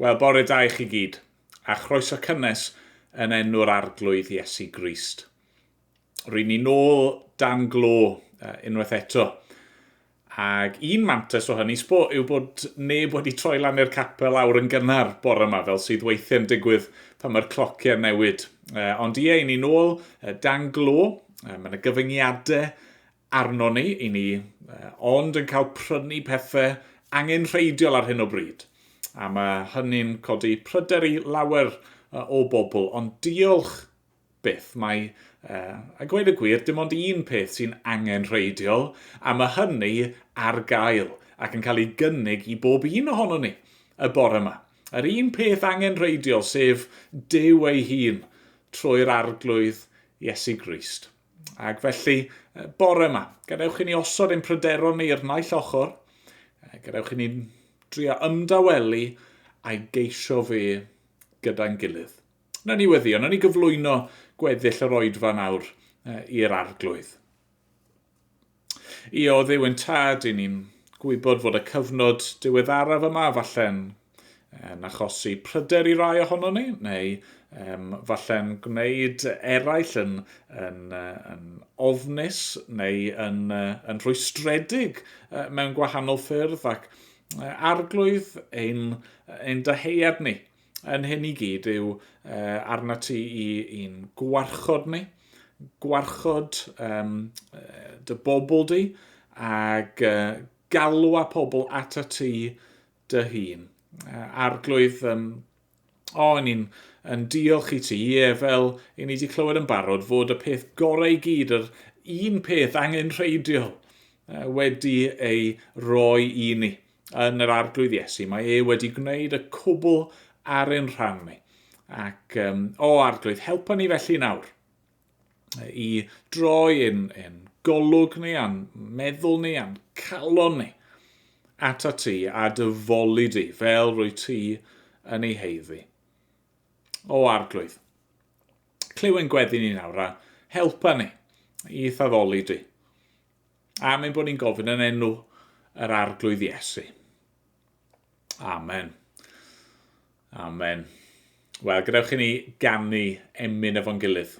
Wel, bore da i chi gyd, a chroeso cynnes yn enw'r Arglwydd Iesu Grist. Rwy'n ni nôl dan glo unwaith eto. Ac un mantes o hynny sbo yw bod neb wedi troi lan i'r capel awr yn gynnar bore yma, fel sydd weithiau'n digwydd pan mae'r clociau'n newid. Ond ie, i ni nôl dan glo, mae yna gyfyngiadau arnon ni, i ni, ond yn cael prynu pethau angenrheidiol ar hyn o bryd. A mae hynny'n codi pryder i lawer o bobl, ond diolch byth mae, a gweud y gwir, dim ond un peth sy'n angenrheidiol, a mae hynny ar gael ac yn cael ei gynnig i bob un ohono ni y bore yma. Yr un peth angenrheidiol, sef Duw ei hun, trwy'r arglwydd Iesu Grist. Ac felly, bore yma, gadewch i ni osod ein pryderon ni i'r naill ochr, gadewch i ni drio ymdawelu a'i geisio fe gyda'n gilydd. Nawr ni weddio, nawr ni gyflwyno gweddill yr oedfa nawr i'r arglwydd. I o Dduw yn Tad, i ni'n gwybod fod y cyfnod diweddaraf yma falle'n yn achosi pryder i rai ohono ni, neu um, falle'n gwneud eraill yn, yn, yn ofnus neu yn, yn rhwystredig mewn gwahanol ffyrdd ac arglwydd ein, ein dyheuad ni. Yn hyn i gyd yw uh, arna ti i i'n gwarchod ni, gwarchod um, dy bobl di, ac uh, galw a pobl at y ti dy hun. Uh, arglwydd, um, o, oh, ni'n yn diolch i ti, ie, fel i ni wedi clywed yn barod, fod y peth gorau i gyd, yr un peth angen rheidiol, uh, wedi ei roi i ni. yn yr Arglwydd Iesu. Mae e wedi gwneud y cwbl ar ein rhan ni. Ac, um, o Arglwydd, helpa ni felly nawr i droi yn, yn golwg ni, a'n meddwl ni, a'n calon ni at a ti a dyfoli di fel rwy ti yn ei heiddi. O Arglwydd, clyw yn gweddi ni nawr a helpa ni i thaddoli di. Am ein bod ni'n gofyn yn enw yr arglwydd Iesu. Amen. Amen. Wel, gadewch i ni ganu emyn efo'n gilydd.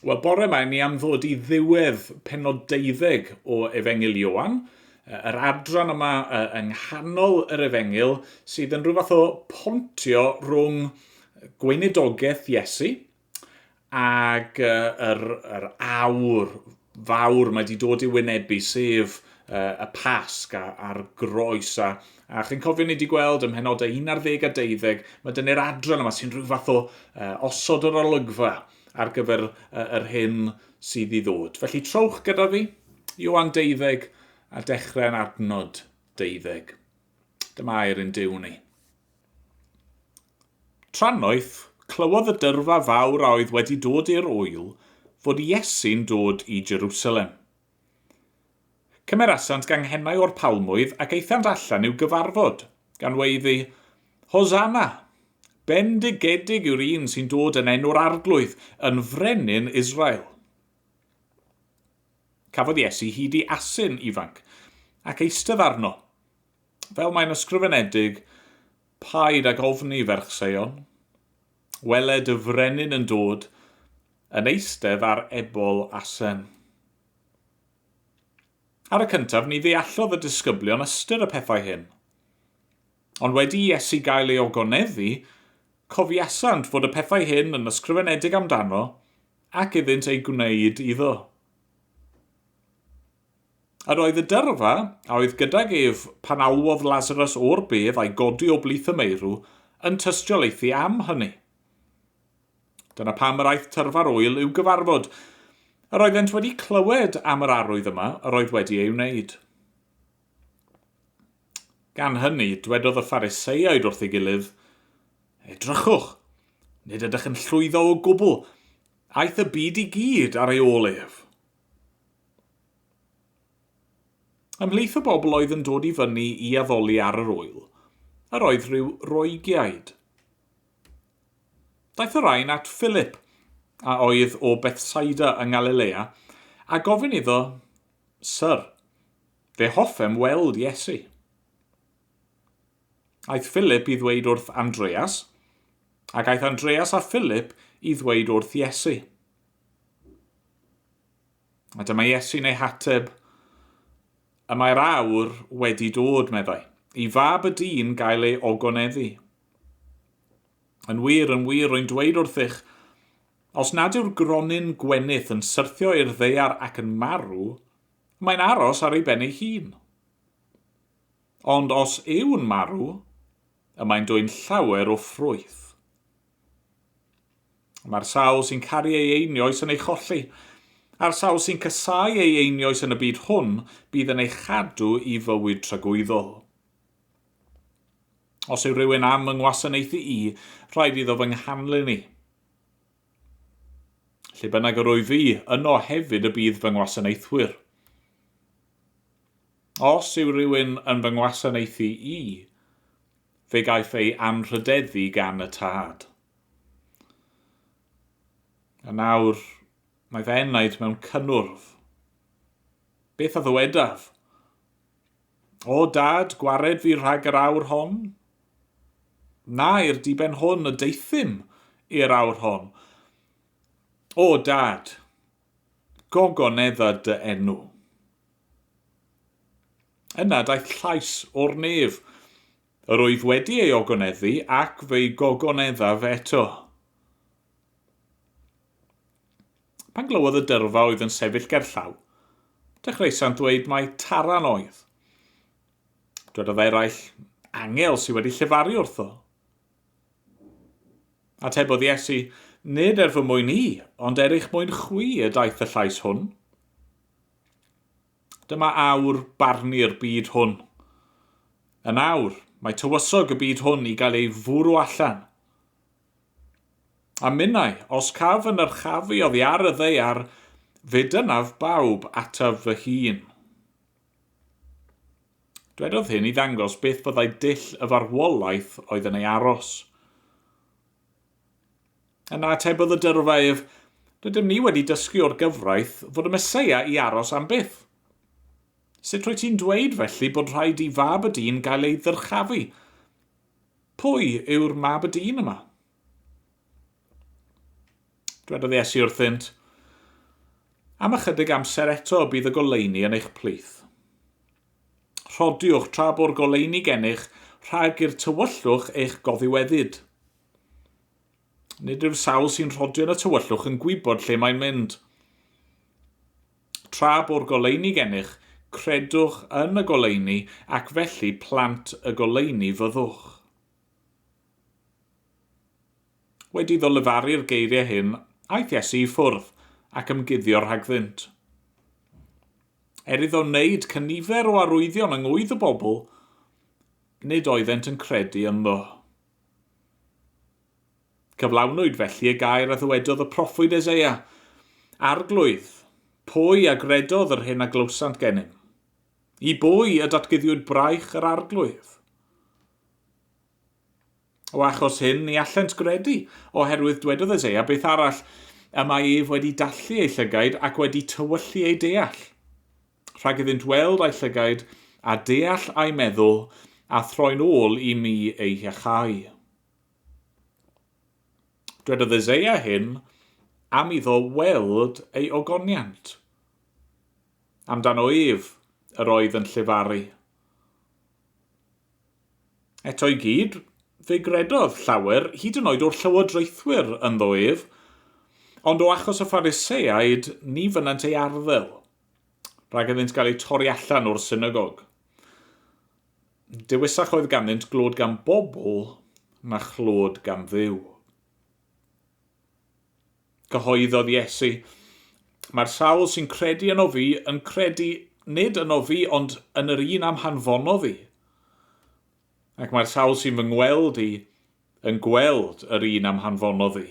Wel, bore mae ni am ddod i ddiwedd penod deuddeg o Efengyl Ioan, yr adran yma yng nghanol yr Efengyl sydd yn rhywbeth o pontio rhwng gweinidogaeth Iesu ac yr, yr awr fawr mae 'di dod i'w wynebu sef y Pasg a'r Groes a a chi'n cofio ni 'di gweld ym mhenodau 11 a 12 mae dyne'r adran yma sy'n rhyw fath o osod yr olygfa ar gyfer yr hyn sydd i ddod. Felly trowch gyda fi, Ioan 12 a dechrau yn adnod 12. Dyma air yn Duw ni. Trannoeth, clywodd y dyrfa fawr a oedd wedi dod i'r ŵyl fod Iesu'n dod i Jerusalem. Cymerasant ganghennau o'r palmwydd ac aethant allan i'w gyfarfod, gan weiddi, Hosanna! Bendigedig yw'r un sy'n dod yn enw'r Arglwydd, yn Frenin Israel. Cafodd Iesu hyd i asyn ifanc, ac eistedd arno, Fel mae'n ysgrifenedig, Paid ag ofni, ferch Seion. Weled y frenin yn dod, yn eistedd ar ebol asen. Ar y cyntaf, ni ddeallodd y disgyblion ystyr y pethau hyn. Ond wedi i Iesu gael ei ogoneddu, cofiasant fod y pethau hyn yn ysgrifenedig amdano ac iddynt eu gwneud iddo. Yr oedd y dyrfa, a oedd gydag ef pan alwodd Lasarus o'r bedd a'i godi o blith y meirw, yn tystiolaethu am hynny. Dyna pam yr aeth tyrfa'r ŵyl i'w gyfarfod. Yr oeddent wedi clywed am yr arwydd yma yr oedd wedi ei wneud. Gan hynny, dwedodd y Phariseiaid wrth ei gilydd, Edrychwch, nid ydych yn llwyddo o gwbl, aeth y byd i gyd ar ei ôl ef. Ymhlith y bobl oedd yn dod i fyny i addoli ar yr ŵyl, yr oedd rhyw Roegiaid. Daeth y rhain at Philip, a oedd o Bethsaida yng Ngalilea, a gofyn iddo, Syr, fe hoffem weld Iesu. Aeth Philip i ddweud wrth Andreas, ac aeth Andreas a Philip i ddweud wrth Iesu. A dyma Iesu'n ei hateb, Y mae'r awr wedi dod, meddai, i Fab y dyn gael ei ogoneddu. Yn wir, yn wir, rwy'n dweud wrthych, os nad yw'r gronyn gwenith yn syrthio i'r ddeiar ac yn marw, mae'n aros ar ei ben ei hun. Ond os yw'n marw, y mae'n dwyn llawer o ffrwyth. Mae'r sawl sy'n caru ei einioes yn ei cholli, a'r sawl sy'n casáu ei einioes yn y byd hwn bydd yn ei chadw i fywyd tragwyddol. Os yw rhywun am yng ngwasanaethu i, rhaid iddo fy nghanlyn i. Lle bynnag yr wyf fi, yno hefyd y bydd fy ngwasanaethwyr. Os yw rhywun yn fy ngwasanaethu i, fe gaiff ei anrhydeddu gan y Tad. A nawr mae fy enaid mewn cynnwrf. Beth a ddywedaf? O, Dad, gwared fi rhag yr awr hon? Na, i'r diben hwn y deuthum i'r awr hon. O, Dad, gogonedda dy enw. Yna daeth llais o'r nef. Yr oedd wedi ei ogoneddu ac fe'i gogoneddaf eto. Pan glywodd y dyrfa oedd yn sefyll gerllaw, dechreuasant ddweud mai Taran oedd. Dwedodd eraill, Angel sydd wedi llefaru wrtho. Atebodd Iesu, Nid er fy mwyn i, ond er eich mwyn chwi y daeth y llais hwn. Dyma awr barnu'r byd hwn. Yn awr, mae tywysog y byd hwn i gael ei fwrw allan. A minnau, os caf fy nyrchafu oddi ar y ddaear, fe dynaf bawb ataf fy hun. Dwedodd hyn i ddangos beth byddai dull y farwolaeth oedd yn ei aros. Yna atebodd y dyrfa ef, Rydym ni wedi dysgu o'r gyfraith fod y Meseia i aros am byth. Sut rwyt ti'n dweud felly bod rhaid i Fab y Dyn gael ei ddyrchafu? Pwy yw'r Mab y Dyn yma? Dwedodd Iesu wrthynt, Am ychydig amser eto bydd y goleuni yn eich plith. Rhodiwch tra bo'r goleuni gennych rhag i'r tywyllwch eich goddiweddyd. Nid yw'r sawl sy'n rhodio yn y tywyllwch yn gwybod lle mae'n mynd. Tra bo'r goleuni gennych, credwch yn y goleuni ac felly plant y goleuni fyddwch. Wedi iddo lefaru'r geiriau hyn, aeth Iesu i ffwrdd ac ymguddio rhagddynt. Er iddo wneud cynifer o arwyddion yng ngwydd y bobl, nid oeddent yn credu ynddo. Cyflawnwyd felly y gair a ddywedodd y proffwyd Eseia, Arglwydd, pwy a gredodd yr hyn a glywsant gennym? I bwy y datguddiwyd braich yr Arglwydd? O achos hyn, ni allent gredu, oherwydd dwedodd Eseia beth arall, y mae ef wedi dallu ei llygaid ac wedi tywyllu ei deall. rhag iddynt weld a'u llygaid, a deall a'u meddwl, a throi'n ôl i mi eu hiachau. Dwedodd Eseia hyn am iddo weld ei ogoniant. Amdano ef yr oedd yn llefaru. Eto i gyd, fe gredodd llawer, hyd yn oed o'r llywodraethwyr ynddo ef, ond o achos y Phariseaid ni fynant ei arddel. rhag iddynt gael eu torri allan o'r synagog. Dewisach oedd ganddynt glod gan bobl na chlod gan ddiw. Cyhoeddodd Iesu, Mae'r sawl sy'n credu yno fi yn credu nid yno fi ond yn yr un am hanfono fi. Ac mae'r sawl sy'n fy ngweld i yn gweld yr un am hanfono fi.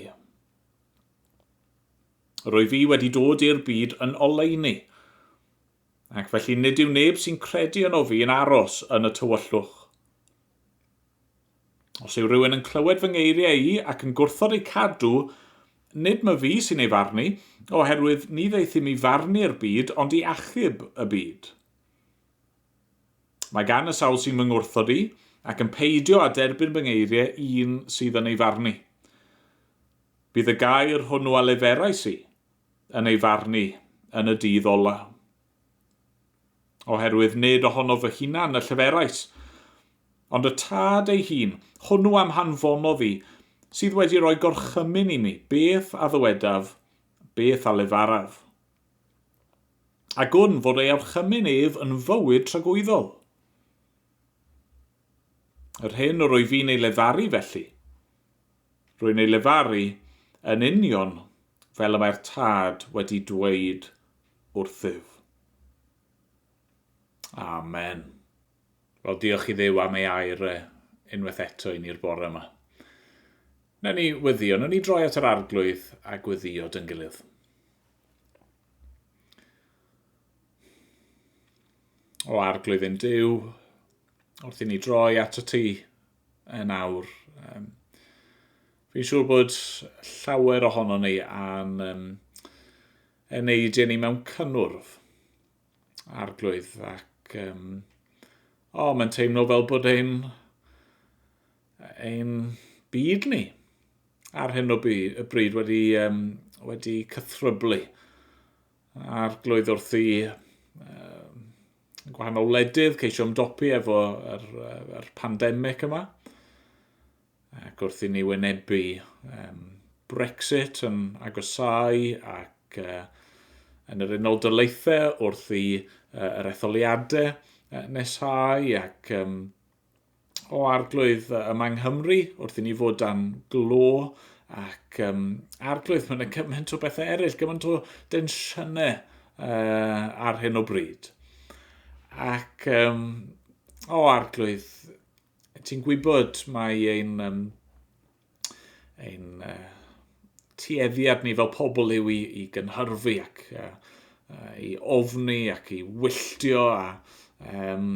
Rwyf i wedi dod i'r byd yn oleuni, ac felly nid yw neb sy'n credu yno fi yn aros yn y tywyllwch. Os yw rhywun yn clywed fy ngeiriau i ac yn gwrthod eu cadw, nid my fi sy'n ei farnu, oherwydd ni ddeith i mi farnu'r byd ond i achub y byd. Mae gan y sawl sy'n fy ngwrthod i, ac yn peidio â derbyn fy ngeiriau un sydd yn ei farnu. Bydd y gair hwnnw a leferais i, yn ei farn i, yn y dydd ola'. Oherwydd nid ohono fy hunan y lleferais, ond y Tad ei hun, hwnnw a'm hanfonodd i, sydd wedi rhoi gorchymyn i mi, beth a ddywedaf, beth a lefaraf. A gwn fod ei orchymyn ef yn fywyd tragwyddol. Yr hyn yr wyf i'n ei lefaru felly, Rwy'n ei lefaru, yn union fel y mae'r Tad wedi dweud wrthyf. Amen. Wel, diolch i Dduw am ei air e, unwaith eto i ni'r bore yma. Newn ni wyddio, newn ni droi at yr arglwydd a gwyddio dyn gilydd. O arglwydd yn Duw, wrth i ni droi at y ti, yn awr. Um, fi'n siŵr bod llawer ohono ni am um, yn ei dyn ni mewn cynnwrf arglwydd ac um, o, oh, mae'n teimlo fel bod ein, ein byd ni ar hyn o bryd wedi, um, wedi cythryblu a'r glwydd wrth i um, gwahanol wledydd, ceisio ymdopi efo yr, yr pandemig yma, ac wrth i ni wynebu um, Brexit yn agosau ac uh, yn yr Unol Daleithiau wrth i uh, yr etholiadau uh, nesau ac um, o arglwydd yma yng Nghymru wrth i ni fod dan glo ac um, arglwydd, mae'n gymaint o bethau eraill, gymaint o densiynau uh, ar hyn o bryd. Ac um, o arglwydd, ti'n gwybod mae ein um, ein uh, tueddiad ni fel pobl yw i, i gynhyrfu ac uh, uh, i ofni ac i wylltio a um,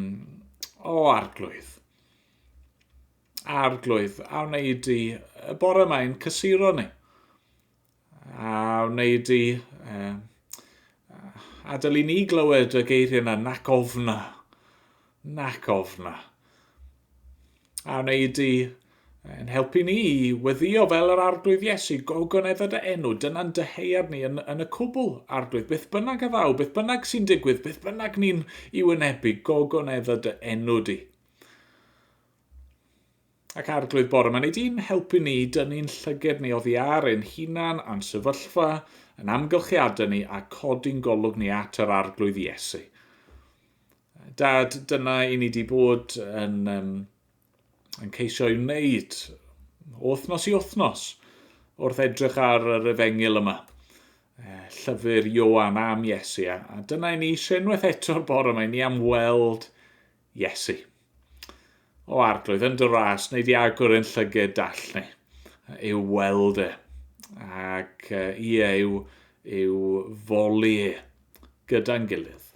o arglwydd. Arglwydd, a wneud i y bore mae'n cysuro ni. A wneud i um, adael i ni glywed y geiriau yna, nac ofna, nac ofna. A wneud i yn helpu ni i weddio fel yr arglwydd Iesu, gogonedda dy enw, dyna'n dyheuad ni yn, yn y cwbl, arglwydd, beth bynnag a ddaw, beth bynnag sy'n digwydd, beth bynnag ni'n i wynebu, gogonedda dy enw di. Ac Arglwydd bore ma wnei di'n helpu ni i dynnu'n llyged ni oddi ar ein hunan a'n sefyllfa, yn amgylchiadau ni a codi'n golwg ni at yr Arglwydd Iesu. Dad, dyna i ni di bod yn, um, yn ceisio ei wneud wythnos i wythnos wrth edrych ar yr efengil yma. Eh, llyfr Ioan am Iesu. A dyna i ni eisiau unwaith eto'r bore mae ni am weld Iesu. O Arglwydd, yn dy ras, wneud i agor ein llyged dall ni, i'w weld e, ac ie, i'w, i'w foli e, gyda'n gilydd.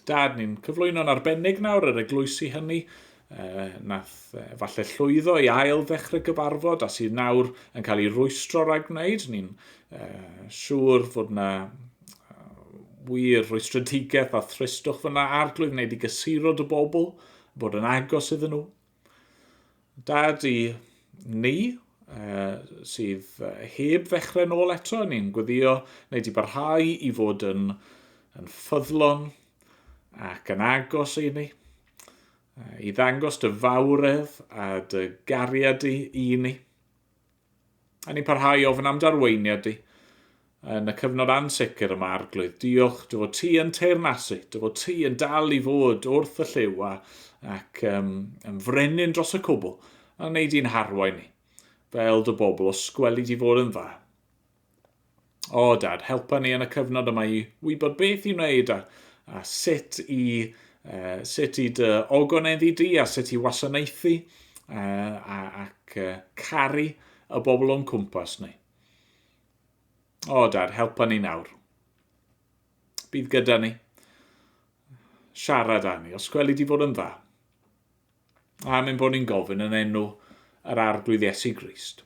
Dad, ni'n cyflwyno'n arbennig nawr yr eglwysi hynny, uh, nath uh, falle llwyddo i ail ddechrau gyfarfod a sydd nawr yn cael ei rwystro rhag wneud. Ni'n uh, siŵr fod yna wir rwystredigaeth a thristwch fyna arglwydd wneud i gysuro dy bobl, bod yn agos iddyn nhw. Dad i ni, uh, sydd heb ddechrau nôl eto, ni'n gweddio wneud i barhau i fod yn, yn ffyddlon ac yn agos i ni, uh, i ddangos dy fawredd a dy gariad i, i ni. A ni'n parhau i ofyn am d'arweiniad di yn y cyfnod ansicr yma, Arglwydd. Diolch dy fod ti yn teyrnasu, dy fod ti yn dal i fod wrth y lliw a, ac um, yn frenin dros y cwbl, a wneud i'n harwain ni, fel dy bobl, os gweli di fod yn dda. O, Dad, helpa ni yn y cyfnod yma i wybod beth i wneud a, a sut i uh, sut i dy ogoneddi di a sut i wasanaethu uh, ac uh, caru y bobl o'n cwmpas ni. O, Dad, helpa ni nawr. Bydd gyda ni. Siarad â ni, os gweli di fod yn dda. A mynd bod ni'n gofyn yn enw yr arglwydd Iesu Grist.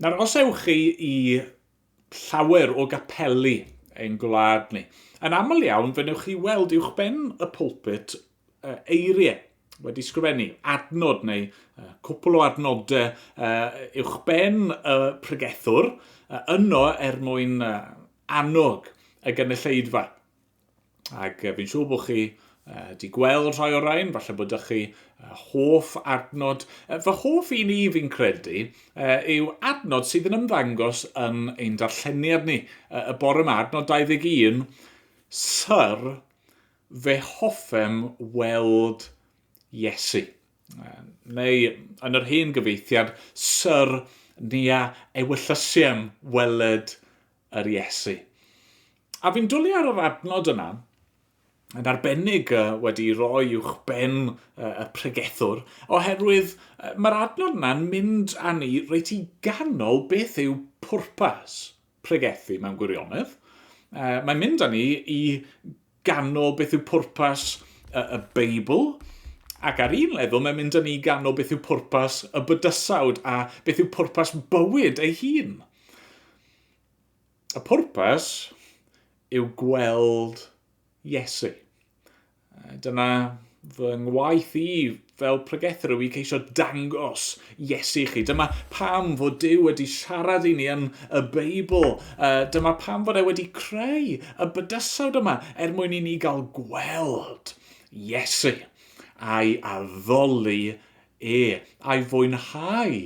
Nawr, os ewch chi i llawer o gapeli ein gwlad ni, yn aml iawn fe newch chi weld uwch ben y pulpit eiriau wedi sgrifennu, adnod neu cwpl o adnodau uwch ben y pregethwr, yno er mwyn annog y gynulleidfa. Ac fi'n siŵr bod chi uh, di gweld rhai o'r rhain, falle bod ych chi uh, hoff adnod. Uh, fy hoff un i fi'n credu uh, yw adnod sydd yn ymddangos yn ein darlleniad ni. Uh, y bore yma, adnod 21, Sir, fe hoffem weld Iesu. Uh, neu yn yr hen gyfeithiad, Sir, ni a ewyllysiem weled yr Iesu. A fi'n dwlu ar yr adnod yna, yn arbennig wedi roi uwch ben y pregethwr, oherwydd mae'r adnod yna'n mynd â ni reit i ganol beth yw pwrpas pregethu mewn gwirionedd. Mae'n mynd â ni i ganol beth yw pwrpas y, y Beibl, ac ar un lefel mae'n mynd â ni i ganol beth yw pwrpas y bydysawd a beth yw pwrpas bywyd ei hun. Y pwrpas yw gweld Iesu. Dyna fy ngwaith i Fel pregethwr rwy i ceisio dangos Iesu i chi. Dyma pam fod Duw wedi siarad i ni yn y Beibl. Dyma pam fod e wedi creu y bydysawd yma, er mwyn i ni gael gweld Iesu, a'i addoli e, a'i fwynhau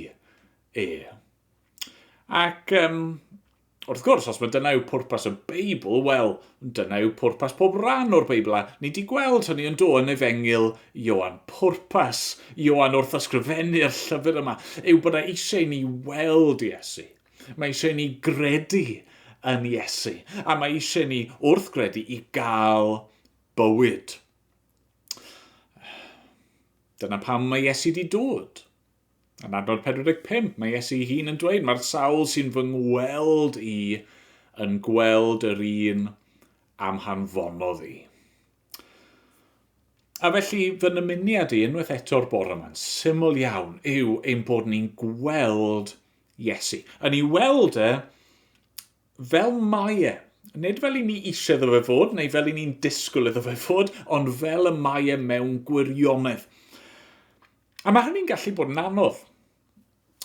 e. Ac um, Wrth gwrs, os mae dyna yw pwrpas y Beibl, wel, dyna yw pwrpas pob rhan o'r Beibl, a ni di gweld hynny yn do yn efengil Ioan. Pwrpas Ioan wrth ysgrifennu'r llyfr yma yw bod e eisiau ni weld Iesu. Mae eisiau ni gredu yn Iesu, a mae eisiau ni wrth gredu i gael bywyd. Dyna pam mae Iesu di dod. Yn adnod 45, mae Iesu'i hun yn dweud, Mae'r sawl sy'n fy ngweld i yn gweld yr un am hanfonodd i. A felly, fy nymuniad i unwaith eto'r bore yma'n syml iawn yw ein bod ni'n gweld Iesu. Yn ei weld e fel mae e, nid fel i ni eisiau ddo fe fod, neu fel i ni'n disgwyl iddo fe fod, ond fel y mae e mewn gwirionedd. A mae hynny'n gallu bod yn anodd.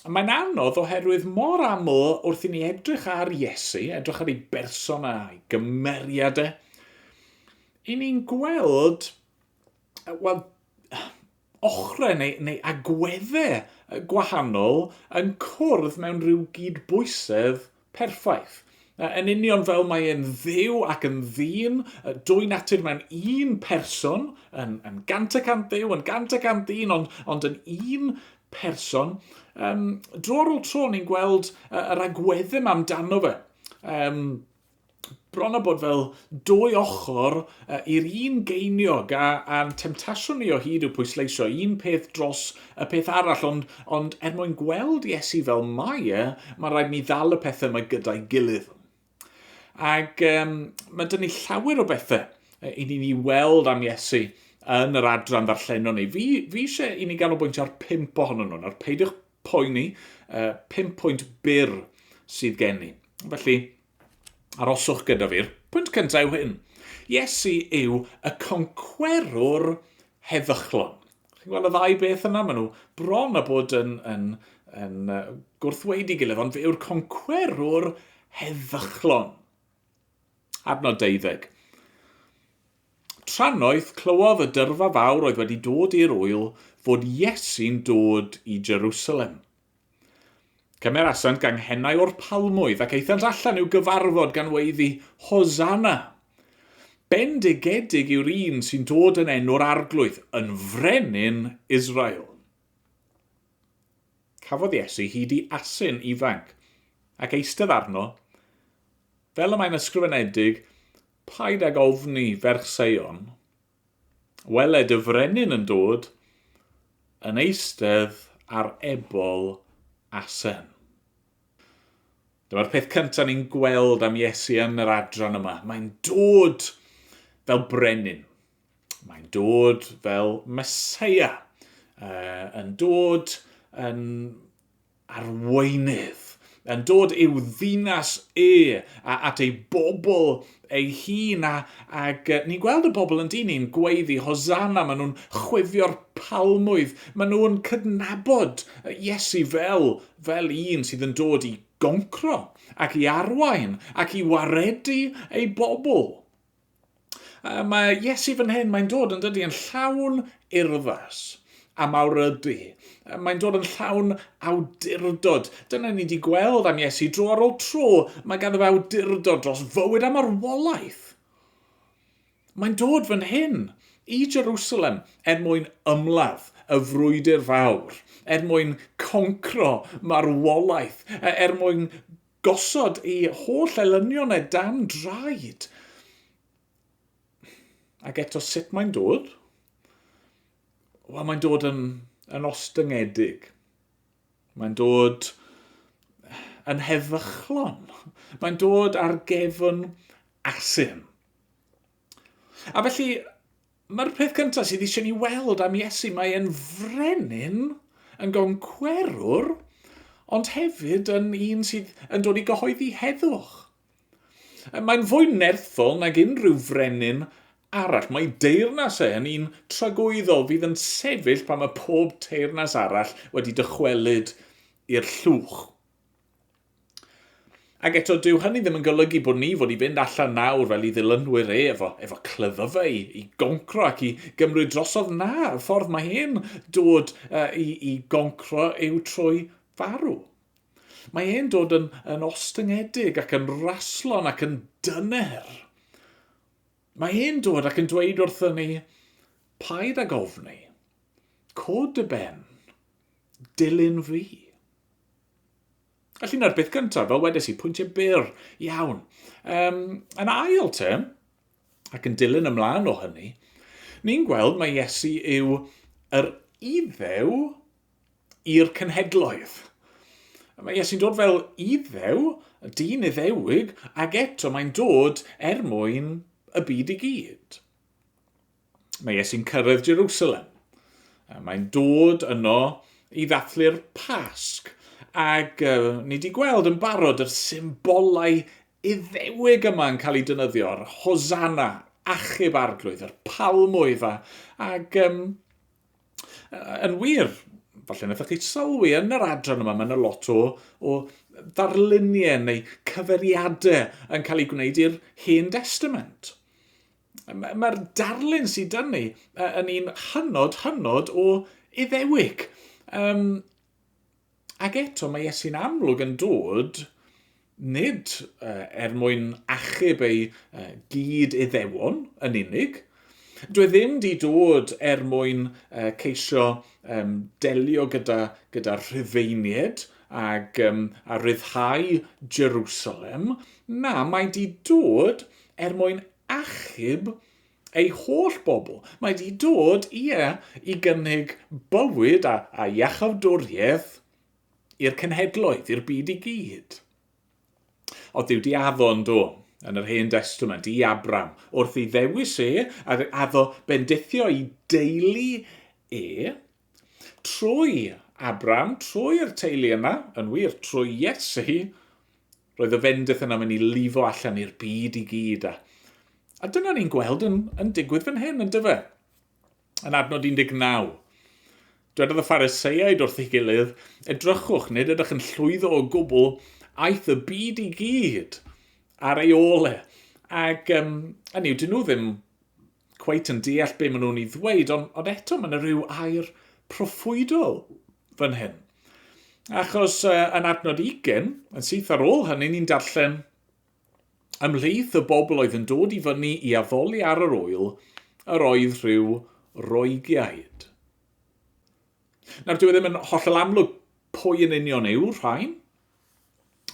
Mae'n anodd oherwydd mor aml wrth i ni edrych ar Iesu, edrych ar ei berson a'i gymeriad e, i ni'n gweld, wel, ochrau neu, neu agweddau gwahanol yn cwrdd mewn rhyw gyd bwysedd Perffaith. Yn union fel mae e'n Dduw ac yn ddyn, dwy natur mewn un person, yn, yn gant y cant Dduw, yn gant y cant ddyn, ond, ond yn un person. Um, dro ar ôl tro, ni'n gweld yr agweddym amdano fe. Um, bron a bod fel dwy ochr uh, i'r un geiniog a, a'n temtasiwn ni o hyd yw pwysleisio un peth dros y peth arall ond, ond er mwyn gweld Iesu fel mae e, mae rhaid ni ddal y pethau mae gyda'i gilydd. Ac um, mae dyn ni llawer o bethau i ni'n ei weld am Iesu yn yr adran ddarllenon ni. Fi, fi eisiau i ni ganolbwyntio ar pimp ohonyn nhw. Nawr, peidiwch poeni, uh, pimp pwynt byr sydd gen i. Felly, Aroswch gyda fi'r pwynt cyntaf yw hyn. Iesu yw y concwerwr heddychlon. Chi'n gweld y ddau beth yna? Maen nhw bron a bod yn, yn, yn, yn gwrthweidi gilydd, ond fe yw'r concwerwr heddychlon. Adnod deuddeg. Tranoeth clywodd y dyrfa fawr oedd wedi dod i'r ŵyl fod Iesu'n dod i Jerusalem. Cymerasant ganghennau o'r palmwydd, ac aethant allan i'w gyfarfod gan weiddi, Hosanna! Bendigedig yw'r un sy'n dod yn enw'r Arglwydd, yn Frenin Israel. Cafodd Iesu hyd i asyn ifanc, ac eistedd arno, fel y mae'n ysgrifenedig, Paid ag ofni, ferch Seion, Weled y frenin yn dod, yn eistedd ar ebol asen. Dyma'r peth cyntaf ni'n gweld am Iesu yn yr adran yma. Mae'n dod fel brenin. Mae'n dod fel Mesoea. Uh, yn dod yn arweinydd, yn dod i'w ddinas e, a at ei bobl ei hun, a, ac ni'n gweld y bobl yn dyn i'n gweiddi, Hosanna, maen nhw'n chwifio'r palmwydd, maen nhw'n cydnabod Iesu fel, fel un sydd yn dod i goncro, ac i arwain, ac i waredu ei bobl. Uh, mae Iesu fan hyn, mae'n dod yn dydy yn llawn urddas a mawr ydy. Uh, mae'n dod yn llawn awdurdod. Dyna ni wedi gweld am Iesu dro ar ôl tro, mae ganddo fe awdurdod dros fywyd a marwolaeth. Mae'n dod fan hyn i Jerusalem er mwyn ymladd y frwydr fawr, er mwyn concro marwolaeth, er mwyn Gosod ei holl elynion e dan draed. Ac eto sut mae'n dod? Wel, mae'n dod yn, yn ostyngedig. Mae'n dod yn heddychlon. Mae'n dod ar gefn asyn. A felly, mae'r peth cyntaf sydd eisiau ni weld am Iesu, mae e'n frenin, yn goncwerwr, ond hefyd yn un sydd yn dod i gyhoeddi heddwch. Mae'n fwy nerthol nag unrhyw frenin arall. Mae deyrnas e yn un tragwyddol fydd yn sefyll pan mae pob teyrnas arall wedi dychwelyd i'r llwch. Ac eto, dyw hynny ddim yn golygu bod ni fod i fynd allan nawr fel i ddilynwyr e efo, efo clyddfa i, i goncro ac i gymryd drosodd na, y ffordd mae e'n dod uh, i, i goncro yw trwy farw. Mae e'n dod yn, yn ostyngedig ac yn raslon ac yn dyner. Mae e'n dod ac yn dweud wrthyn ni, paid ag ofni, cod y ben, dilyn fi. Felly na'r beth gyntaf, fel wedes i, pwyntiau byr iawn. Um, yn ail te, ac yn dilyn ymlaen o hynny, ni'n gweld mae Iesu yw yr iddew i'r cenhedloedd. Mae Iesu'n dod fel iddew, y dyn iddewig, ac eto mae'n dod er mwyn y byd i gyd. Mae Iesu'n cyrraedd Jerusalem. Mae'n dod yno i ddathlu'r Pasg, ac uh, ni wedi gweld yn barod yr symbolau iddewig yma yn cael eu dynyddio, yr hosanna, achub arglwydd, yr palmwydd, a, ac um, yn wir, falle wnaethoch chi sylwi yn yr adran yma, mae yna lot o, o ddarluniau neu cyferiadau yn cael eu gwneud i'r Hen Testament. Mae'r ma darlun sydd dyn ni yn un hynod, hynod o iddewig. Um, ac eto mae Iesu'n amlwg yn dod nid uh, er mwyn achub ei uh, gyd iddewon yn unig, Dwi e ddim di dod er mwyn uh, ceisio um, delio gyda, gyda rhyfeinied ag, um, a rhyddhau Jerusalem. Na, mae di dod er mwyn achub ei holl bobl. Mae wedi dod, ie, i gynnig bywyd a, a iachawdwriaeth i'r cenhedloedd, i'r byd i gyd. O Dduw di addon do, yn yr Hen Destament, i Abram, wrth i ddewis e, a addo bendithio i deulu e, trwy Abram, trwy'r teulu yna, yn wir, trwy Iesu, Roedd y fendith yna mynd i lifo allan i'r byd i gyd, a, a dyna ni'n gweld yn, yn digwydd fan hyn, yn dyfa. Yn adnod 19. Dwedodd y phariseiaid wrth ei gilydd, edrychwch, nid ydych yn llwyddo o gwbl, aeth y byd i gyd ar ei ôl e. Ac um, hynny yw, dyn nhw ddim cweit yn deall be maen nhw'n ei ddweud, ond, ond eto mae yna rhyw air proffwydol fan hyn. Achos uh, yn adnod 20, yn syth ar ôl hynny, ni'n darllen ymhlith y bobl oedd yn dod i fyny i addoli ar yr oel, yr oedd rhyw roegiaid. Nawr, dwi e ddim yn hollol amlwg pwy yn union yw rhain,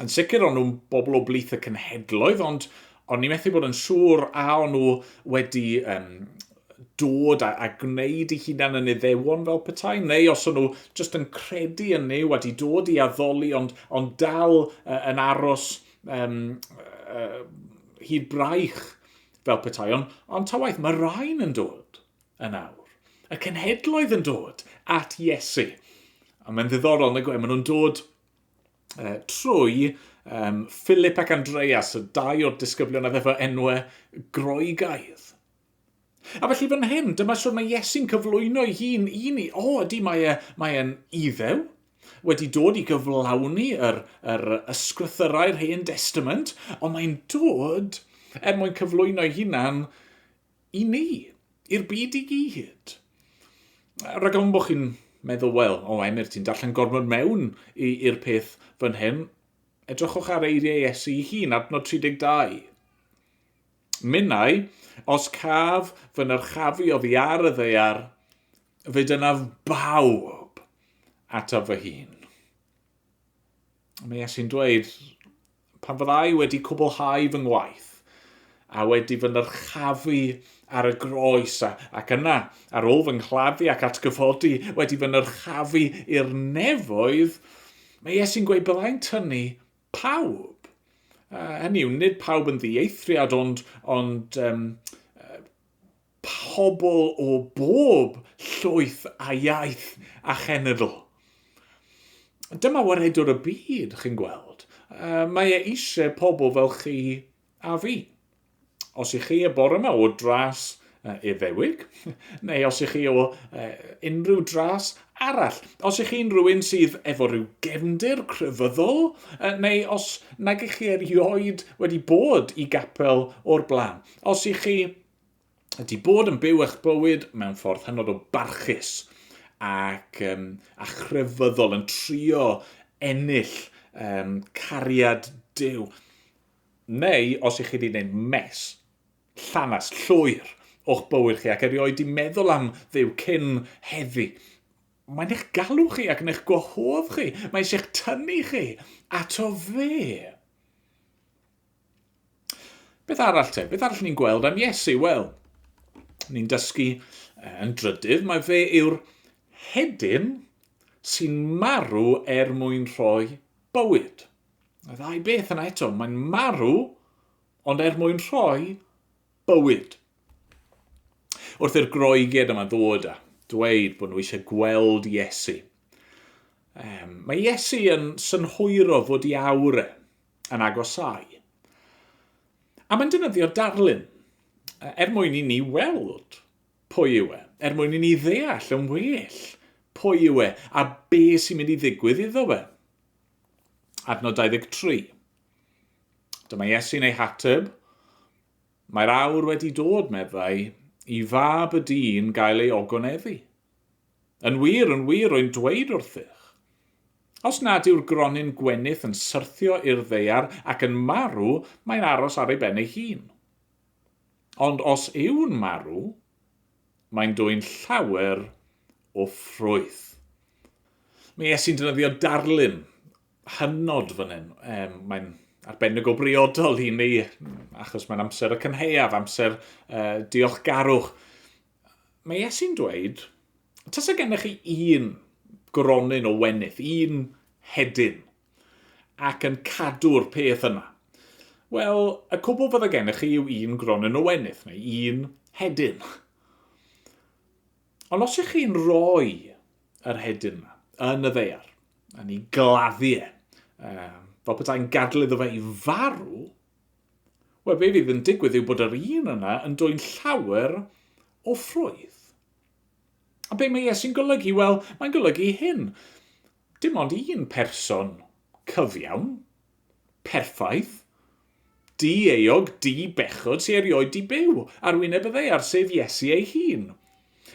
Yn sicr o'n nhw'n bobl o blith y cenhedloedd, ond o'n ni methu bod yn siŵr a o'n nhw wedi um, dod a, a gwneud i hunan yn iddewon fel petai, neu os o'n nhw jyst yn credu yn ni, wedi dod i addoli, ond, ond dal uh, yn aros um, uh, hyd braich fel petai. Ond, on ta waith, mae rhain yn dod yn awr. Y cenhedloedd yn dod at Iesu. A mae'n ddiddorol, nag e, maen nhw'n dod uh, trwy um, Philip ac Andreas, y dau o'r disgyblion a ddefo enwau groegaidd. A felly fan hyn, dyma sut mae Iesu'n cyflwyno ei hun i ni. O, ydy, mae e, mae e'n iddew, wedi dod i gyflawni yr, yr ysgrythyrau'r hen testament, ond mae'n dod er mwyn cyflwyno ei hunan I ni. I'r byd i gyd. Rhag ofn bod chi'n meddwl, wel, o Emyr, ti'n darllen gormod mewn i'r peth fan hyn. Edrychwch ar eiriau Iesu ei hun, adnod 32. Minnau, os caf fy nyrchafu oddi ar y ddear, fe dynaf bawb ataf fy hun. Mae Iesu'n dweud, Pan fyddai wedi cwblhau fy ngwaith, a wedi fy nyrchafu ar y groes, ac yna, ar ôl fy nghladdu ac atgyfodi, wedi fy nyrchafu i'r nefoedd, mae Iesu'n gweud byddai'n tynnu pawb. Uh, hynny yw, nid pawb yn ddieithriad, ond, ond um, pobl o bob llwyth a iaith a chenedl. Dyma waredwr y byd, chi'n gweld. Mae e eisiau pobl fel chi a fi. Os i chi y bore yma o dras Iddewig, neu os i chi o unrhyw dras arall, os i chi'n rhywun sydd efo rhyw gefndir crefyddol, neu os nag i chi erioed wedi bod i gapel o'r blaen, os i chi ydy bod yn byw eich bywyd mewn ffordd hynod o barchus ac um, a chrefyddol yn trio ennill um, cariad Dyw. Neu, os ych chi wedi gwneud mes, llanas, llwyr o'ch bywyd chi ac erioed di meddwl am ddew cyn heddi, mae'n eich galw chi ac yn eich gwahodd chi. Mae eisiau eich tynnu chi ato fe. Beth arall te? Beth arall ni'n gweld am Iesu? Wel, ni'n dysgu yn drydydd, mae fe yw'r hedyn sy'n marw er mwyn rhoi bywyd. Y ddau beth yna eto, mae'n marw ond er mwyn rhoi bywyd. Wrth i'r groeged yma ddod a dweud bod nhw eisiau gweld Iesu, um, mae Iesu yn synhwyro fod i awr e, yn agosáu. A mae'n defnyddio darlun, er mwyn i ni weld pwy yw e, er mwyn i ni ddeall yn well pwy yw e a be sy'n mynd i ddigwydd iddo fe. Adnod 23. Dyma Iesu'n ei hateb. Mae'r awr wedi dod, meddai, i fab y dyn gael ei ogoneddu. Yn wir, yn wir, rwy'n dweud wrthych, Os nad yw'r gronyn gwenith yn syrthio i'r ddaear ac yn marw, mae'n aros ar ei ben ei hun. Ond os yw'n marw, mae'n dwyn llawer o ffrwyth. Mae Iesu'n defnyddio darlun hynod fan hyn. Um, mae'n arbennig o briodol i ni, achos mae'n amser y cynheuaf, amser uh, diolchgarwch. Mae Iesu'n dweud, tasa gennych chi un gronyn o wenydd, un hedyn, ac yn cadw'r peth yna. Wel, y cwbl fydda gennych chi yw un gronyn o wenydd, neu un hedyn. Ond os ych chi'n rhoi yr hedyn yma yn y ddeiar, yn ei gladdu e, fel petai'n gadlu iddo fe i farw, Wel, be fydd yn digwydd yw bod yr un yna yn dwyn llawer o ffrwydd. A be mae Iesu'n golygu? Wel, mae'n golygu hyn. Dim ond un person cyfiawn, perffaith, di-eog, di-bechod sy'n erioed di byw ar wyneb y ddeiar, sef Iesu ei hun.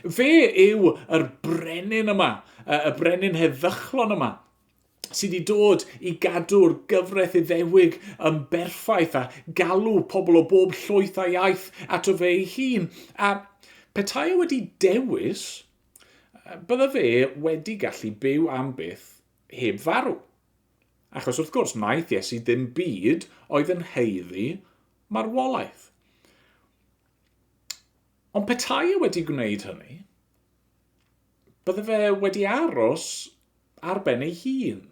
Fe yw yr brenin yma, y brenin heddychlon yma, sydd wedi dod i gadw'r gyfraith Iddewig yn berffaith a galw pobl o bob llwyth a iaith ato fe ei hun, a petai e wedi dewis, bydda fe wedi gallu byw am byth heb farw. Achos wrth gwrs, wnaeth Iesu ddim byd oedd yn heiddi marwolaeth. Ond petai e wedi gwneud hynny, Bydde fe wedi aros ar ben ei hun.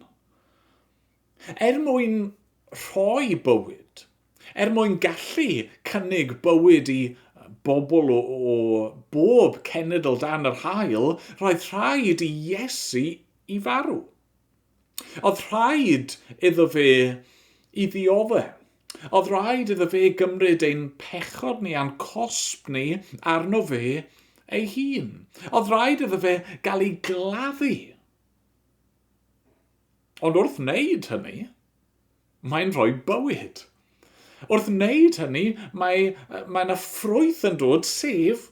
Er mwyn rhoi bywyd, er mwyn gallu cynnig bywyd i bobl o, o bob cenedl dan yr haul, roedd rhaid i Iesu i farw. Oedd rhaid iddo fe i ddiodde'. Oedd rhaid iddo fe gymryd ein pechod ni a'n cosb ni arno fe ei hun. Oedd rhaid iddo fe gael ei gladdu. Ond wrth wneud hynny, mae'n rhoi bywyd. Wrth wneud hynny, mae, mae yna ffrwyth yn dod, sef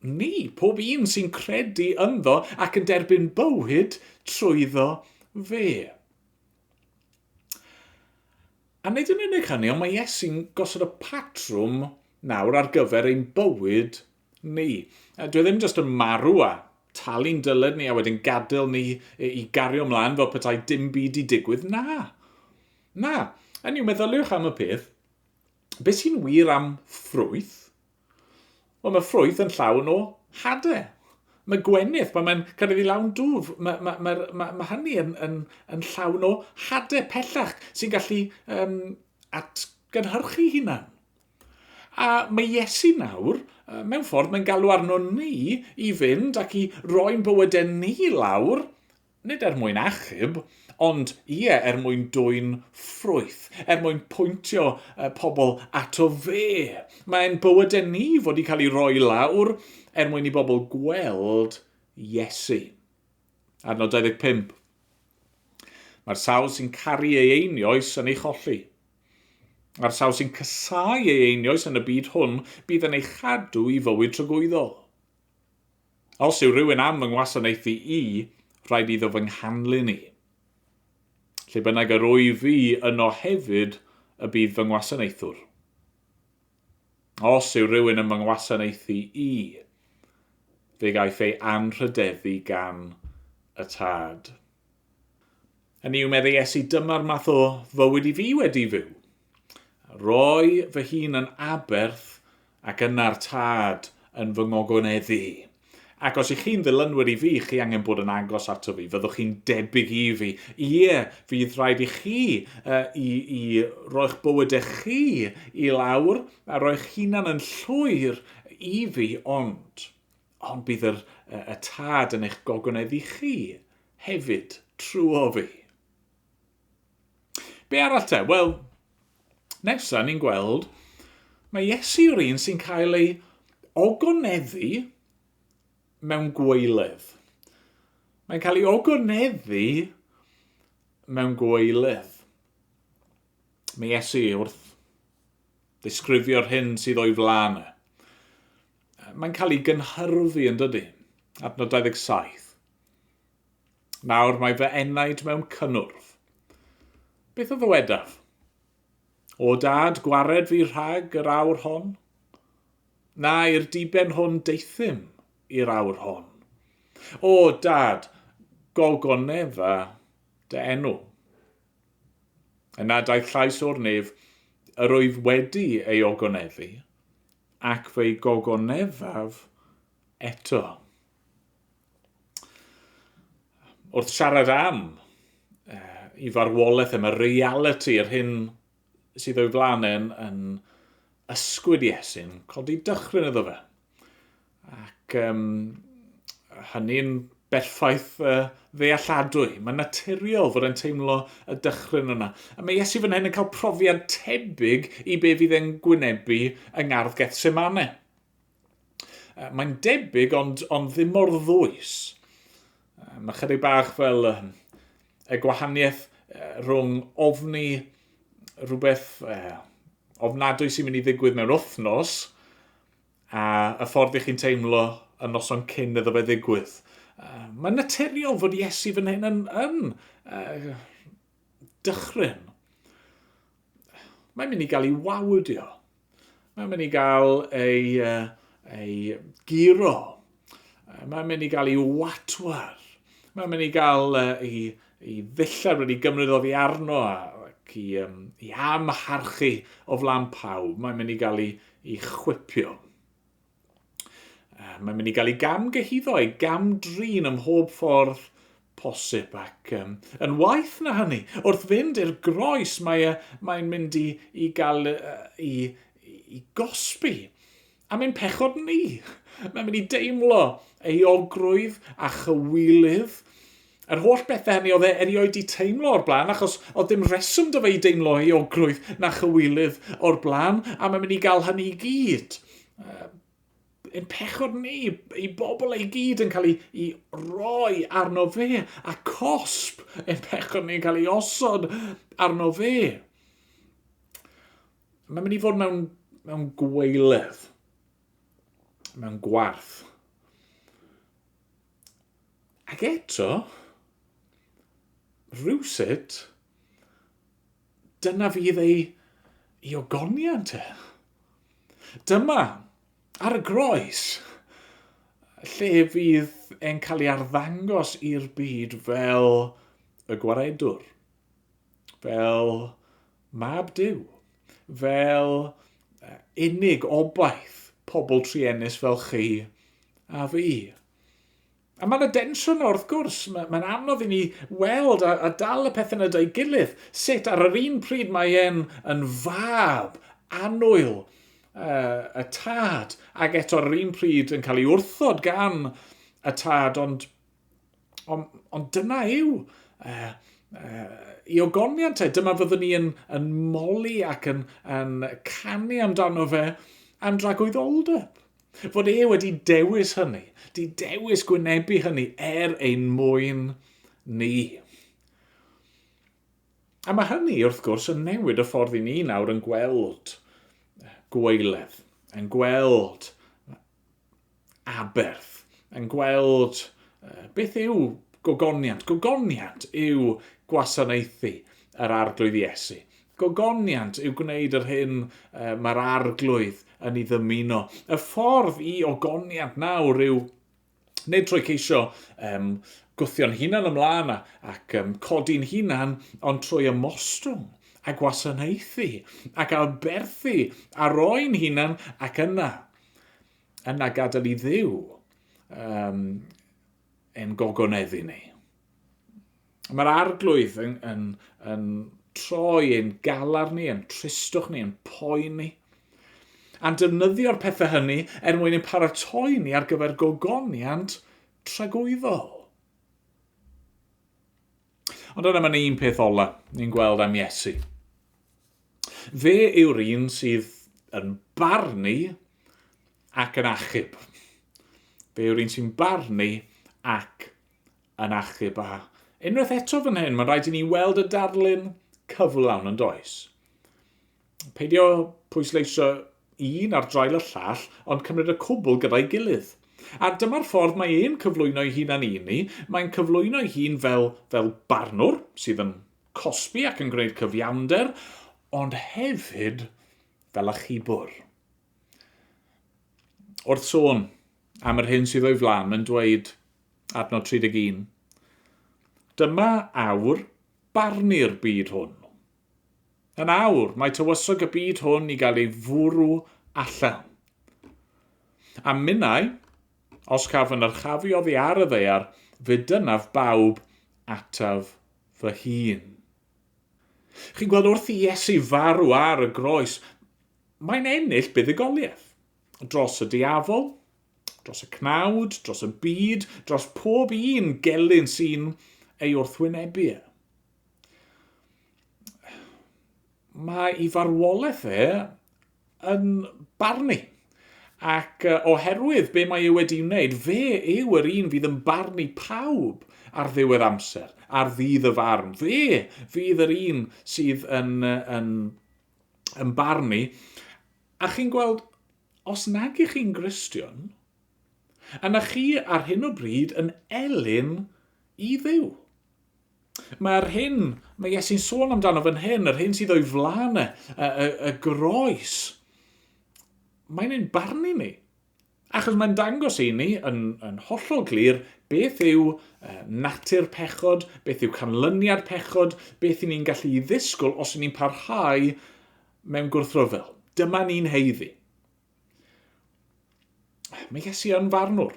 Ni, pob un sy'n credu ynddo ac yn derbyn bywyd trwyddo fe. A nid yn unig hynny, ond mae Iesu'n gosod y patrwm nawr ar gyfer ein bywyd ni. Dwi e ddim jyst yn marw a talu'n dyled ni a wedyn gadael ni i gario mlaen fel petai dim byd i digwydd. Na. Na. Hynny yw, meddyliwch am y peth. Beth sy'n wir am ffrwyth Wel, mae ffrwyth yn llawn o hade. Mae gwenith, pan mae'n cyrraedd i lawn dwf, mae, mae, mae, mae, mae hynny yn, yn, yn llawn o hade pellach sy'n gallu um, atgynhyrchu hunan. A mae Iesu nawr, mewn ffordd, mae'n galw arno ni i fynd ac i roi'n bywydau ni lawr Nid er mwyn achub, ond, ie, er mwyn dwyn ffrwyth, er mwyn pwyntio pobl ato fe. Mae ein bywydau ni fod i cael ei roi lawr er mwyn i bobl gweld Iesu. Adnod 25. Mae'r sawl sy'n caru ei einioes yn ei cholli. A'r sawl sy'n casau ei einioes yn y byd hwn bydd yn ei chadw i fywyd tragwyddol. Os yw rhywun am fy ngwasanaethu i, rhaid iddo fy nghanlyn i. Lle bynnag yr wyf fi, yno hefyd y bydd fy ngwasanaethwr. Os yw rhywun yn fy ngwasanaethu i, fe gaiff ei anrhydeddu gan y Tad. Hynny yw, meddai Iesu, dyma'r math o fywyd i fi wedi fyw. Roi fy hun yn Aberth ac yna'r Tad yn fy ngogoneddu. Ac os y'ch chi'n ddilynwyr i fi, chi angen bod yn agos ato fi, fyddwch chi'n debyg i fi. Ie, fydd rhaid i chi uh, i, i roi'ch bywydau chi i lawr a roi'ch hunan yn llwyr i fi, ond, ond bydd yr, uh, y Tad yn eich gogoneddu chi hefyd, trwy o fi. Be arall te? Wel, nesa ni'n gweld, mae Iesu yw'r un sy'n cael ei ogoneddu mewn gweiledd. Mae'n cael ei ogoneddu mewn gweiledd. Mae Iesu wrth ddisgrifio'r hyn sydd o'i flaen e. Mae'n cael ei gynhyrfu yn dydy, adnod 27. Nawr mae fy enaid mewn cynnwrf. Beth a ddywedaf? O dad, gwared fi rhag yr awr hon. Na, i'r diben hwn deithym i'r awr hon. O dad, gogonef a dy enw. Yna daeth llais o'r nef, yr oedd wedi ei ogonefu, ac fe'i gogonefaf eto. wrth siarad am uh, i farwolaeth yma, reality, yr hyn sydd o'i flaen yn, yn ysgwyd Iesu'n codi dychryn iddo fe. Ac um, hynny'n berffaith uh, ddealladwy. Mae'n naturiol fod e'n teimlo y dychryn yna. A mae Iesu fan hyn yn cael profiad tebyg i be fydd e'n gwynebu yng ngardd Gethsemane. Uh, Mae'n debyg ond, ond ddim mor ddwys. Uh, Mae chydig bach fel uh, y gwahaniaeth uh, rhwng ofni rhywbeth uh, ofnadwy sy'n mynd i ddigwydd mewn wythnos a y ffordd i chi'n teimlo y noson cyn iddo fe ddigwydd. Uh, Mae'n naturiol fod Iesu fan hyn yn, yn uh, dychryn. Mae'n mynd i gael ei wawdio. Mae'n mynd i gael ei, uh, ei giro. Mae'n mynd i gael ei watwar. Mae'n mynd i gael uh, ei, ei ddillad wedi gymryd oddi arno ac i, um, i amharchu o flan pawb. Mae'n mynd i gael ei, ei chwipio. Uh, mae'n mynd i gael ei gam gyhyddo, ei gam drin ym mhob ffordd posib ac um, yn waith na hynny. Wrth fynd i'r groes mae, uh, mae'n mynd i, i gael uh, i, i gosbi. A mae'n pechod ni. Mae'n mynd i deimlo ei ogrwydd a chywilydd Yr holl bethau hynny oedd e erioed wedi teimlo o'r blaen, achos oedd dim reswm da fe i deimlo euogrwydd na chywilydd o'r blaen, a mae'n mynd i gael hynny i gyd. Yn pechod ni, i bobl ei gyd yn cael ei, ei roi arno fe, a cosp yn pechod ni'n cael ei osod arno fe. Mae'n mynd i fod mewn, mewn gweilydd, mewn gwarth. Ac eto, rhywsut, dyna fydd ei, ei ogoniant e. Dyma, ar y groes, lle fydd e'n cael ei arddangos i'r byd fel y gwaredwr, fel Mab Duw, fel unig obaith pobl truenus fel chi a fi. A mae yna densiwn na wrth gwrs, mae'n mae anodd i ni weld a, a dal y pethau nad ei gilydd, sut ar yr un pryd mae e'n yn fab anwyl uh, y tad, ac eto ar yr un pryd yn cael ei wrthod gan y tad, ond Ond, ond dyna yw uh, uh, i ogoniant e. Dyma fyddwn ni yn, yn moli ac yn, yn canu amdano fe am dragwydd oldeb. Fod e wedi dewis hynny, di dewis gwynebu hynny er ein mwyn ni. A mae hynny, wrth gwrs, yn newid y ffordd i ni nawr yn gweld gweiledd, yn gweld aberth yn gweld uh, beth yw gogoniant. Gogoniant yw gwasanaethu yr arglwydd Iesu. Gogoniant yw gwneud yr hyn uh, mae'r arglwydd yn ei ddymuno. Y ffordd i ogoniant nawr yw nid trwy ceisio um, gwthio'n hunan ymlaen ac um, codi'n hunan, ond trwy ymostwng a gwasanaethu ac aberthu a roi'n hunan ac yna yna gadael i ddiw um, yn gogoneddu ni. Mae'r arglwydd yn, yn, yn troi yn galar ni, yn tristwch ni, yn poen ni. A'n defnyddio'r pethau hynny er mwyn ein paratoi ni ar gyfer gogoniant tragwyddol. Ond yna mae'n un peth ola ni'n gweld am Iesu. Fe yw'r un sydd yn barnu ac yn achub. Fe yw'r un sy'n barnu ac yn achub. A unwaith eto fan hyn, mae'n rhaid i ni weld y darlun cyflawn yn does. Peidio pwysleisio un ar draul y llall, ond cymryd y cwbl gyda'i gilydd. A dyma'r ffordd mae e'n cyflwyno'i hun â ni, mae'n cyflwyno'i hun fel, fel barnwr sydd yn cosbi ac yn gwneud cyfiawnder, ond hefyd fel achubwr. Wrth sôn am yr hyn sydd o'i flan, mae'n dweud, adnod 31, Dyma awr barnu'r byd hwn. Yn awr, mae tywysog y byd hwn i gael ei fwrw allan. A minnau, os caf yn yrchafu oddi ar y ddaear, fe dynaf bawb ataf fy hun. Chi'n gweld, wrth i Iesu farw ar y groes, mae'n ennill buddugoliaeth dros y diafol, dros y cnawd, dros y byd, dros pob un gelyn sy'n ei wrthwynebu e. mae ei farwolaeth e yn barnu. Ac uh, oherwydd be mae e wedi wneud, fe yw yr un fydd yn barnu pawb ar ddiwedd amser, ar ddydd y farn. Fe fydd yr un sydd yn, yn, yn barnu. A chi'n gweld, os nag ych chi'n Gristion, yna chi ar hyn o bryd yn elyn i ddiw. Mae'r hyn mae Iesu'n sôn amdano fan hyn, yr hyn sydd o'i flaen e, y, y, y groes, mae'n ein barnu ni. Achos mae'n dangos i ni yn, yn hollol glir beth yw uh, natur pechod, beth yw canlyniad pechod, beth i ni'n gallu ei ddisgwyl os ni'n parhau mewn gwrthryfel. Dyma ni'n heiddi. Mi ges i yn farnwr.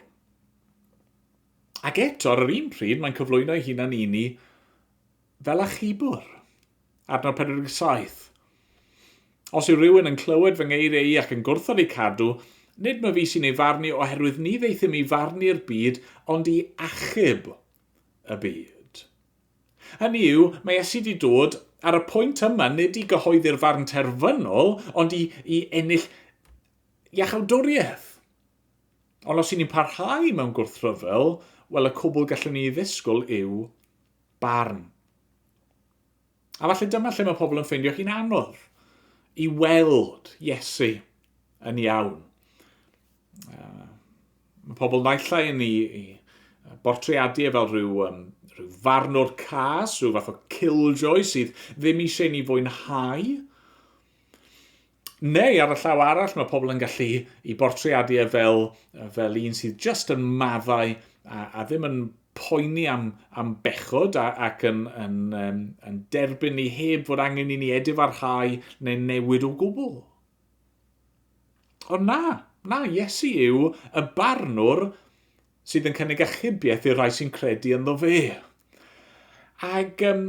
Ac eto, ar yr un pryd, mae'n cyflwyno ei hunan i ni fel achubwr. Adnod 47. Os yw rhywun yn clywed fy ngeiriau i ac yn gwrthod eu cadw, nid mae fi sy'n ei farnu oherwydd ni ddeithum i farnu'r byd ond i achub y byd. Hynny yw, mae Iesu 'di dod, ar y pwynt yma, nid i gyhoeddi'r farn terfynol, ond i, i ennill iachawdwriaeth. Ond os i ni'n parhau mewn gwrthryfel, wel y cwbl gallwn ni ddisgwyl yw barn. A falle dyma lle mae pobl yn ffeindio hi'n anodd i weld Iesu yn iawn. Uh, mae pobl naillai yn ei, ei bortreadu e fel rhyw, um, rhyw farnwr cas, rhyw fath o killjoy sydd ddim eisiau ni fwynhau. Neu ar y llaw arall, mae pobl yn gallu i bortreadu e fel, fel un sydd just yn maddau a, a ddim yn poeni am, am bechod a, ac yn, yn, yn, yn derbyn ni heb fod angen i ni edifarhau neu newid o gwbl. Ond na, na, Iesu yw y barnwr sydd yn cynnig achubiaeth i'r rhai sy'n credu ynddo fe. Ac um,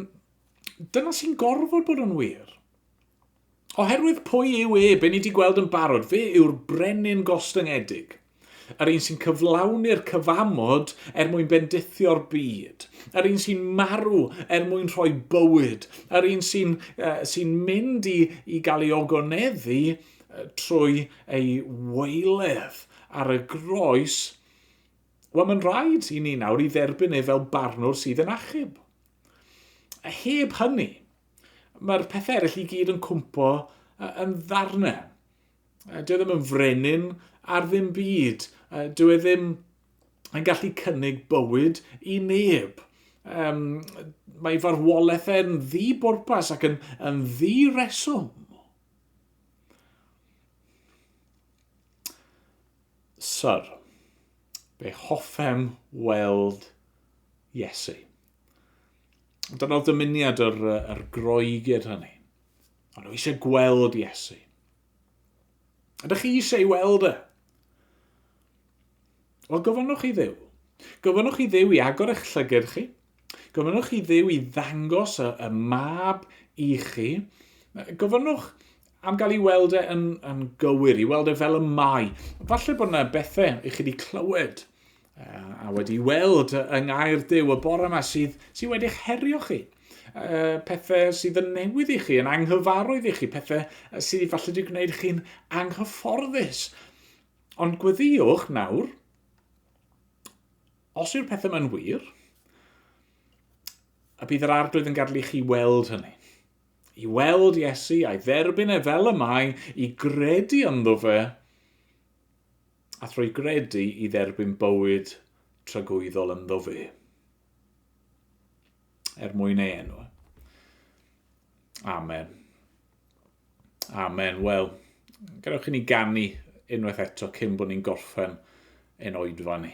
dyna sy'n gorfod bod yn wir. Oherwydd pwy yw e, be ni wedi gweld yn barod, fe yw'r brenin gostyngedig. Yr un sy'n cyflawni'r cyfamod er mwyn bendithio'r byd. Yr un sy'n marw er mwyn rhoi bywyd. Yr un sy'n uh, sy mynd i, i gael ei ogoneddu uh, trwy ei weiledd ar y groes. Wel, mae'n rhaid i ni nawr i dderbyn ei fel barnwr sydd yn achub. A heb hynny, mae'r pethau eraill i gyd yn cwmpo yn ddarnau. Uh, dwi e ddim yn frenin ar ddim byd. Uh, dwi e ddim yn gallu cynnig bywyd i neb. Um, mae farwolaeth e'n ddi bwrpas ac yn, yn ddi reswm. Sir, be hoffem weld Iesu. Dyna'r dymuniad yr, yr Groegid hynny. Ond nhw eisiau gweld Iesu. Ydych chi eisiau ei weld e? Wel, gofynnwch i ddew. Gofynnwch i ddew i agor eich llyged chi. Gofynnwch i ddew i ddangos y, y mab i chi. Gofynnwch am gael ei weld e yn, yn gywir, i weld e fel y mae. Falle bod yna bethau i chi wedi clywed a wedi weld yng Ngair Duw y bore yma sydd, sydd wedi'ch herio chi. Uh, pethau sydd yn newydd i chi, yn anghyfarwydd i chi, pethau sydd falle wedi gwneud chi'n anghyfforddus. Ond gweddiwch nawr, os yw'r pethau mae'n wir, a bydd yr arglwydd yn gadlu chi weld hynny. I weld Iesu a'i dderbyn e fel y mae, i gredu ynddo fe, a thrwy gredu i dderbyn bywyd tragwyddol ynddo fe, er mwyn ei enw. Amen. Amen. Wel, gadewch i ni ganu unwaith eto cyn bod ni'n gorffen ein oedfa ni.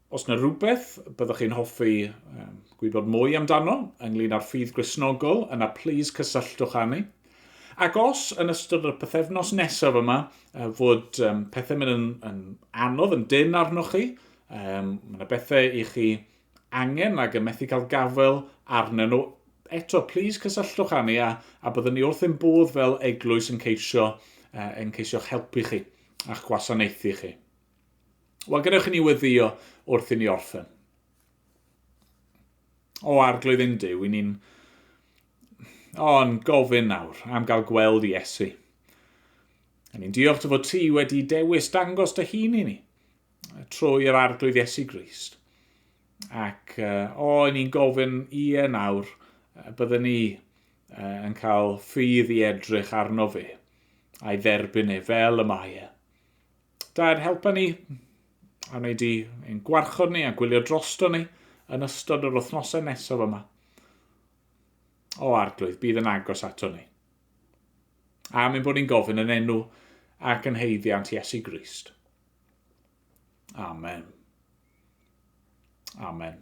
Os na rhywbeth byddwch chi'n hoffi gwybod mwy amdano ynglyn â'r ffydd Gristnogol, yna plis cysylltwch â ni. Ac os yn ystod y pethefnos nesaf yma fod pethau mynd yn, yn anodd, yn dyn arnoch chi, um, mae yna bethau i chi angen ac yn methu cael gafael arnyn nhw, eto, plis cysylltwch â ni a, a byddwn ni wrth ein bodd fel eglwys yn ceisio, uh, yn ceisio'ch helpu chi a'ch gwasanaethu chi. Wel, gadewch i ni weddio wrth i ni orffen. O arglwydd yn Dyw, i ni'n o'n gofyn nawr am gael gweld i Iesu. A ni'n diolch dy fod ti wedi dewis dangos dy hun i ni trwy yr arglwydd Iesu Grist. Ac uh, o, i ni'n gofyn i e nawr, byddwn ni uh, yn cael ffydd i edrych arno fe a'i dderbyn e fel y mae e. Da yn helpa ni, a wneud di ein gwarchod ni a gwylio drosto ni yn ystod yr wythnosau nesaf yma. O arglwydd, bydd yn agos ato ni. A mynd bod ni'n gofyn yn enw ac yn heiddiant Iesu Grist. Amen. Amen.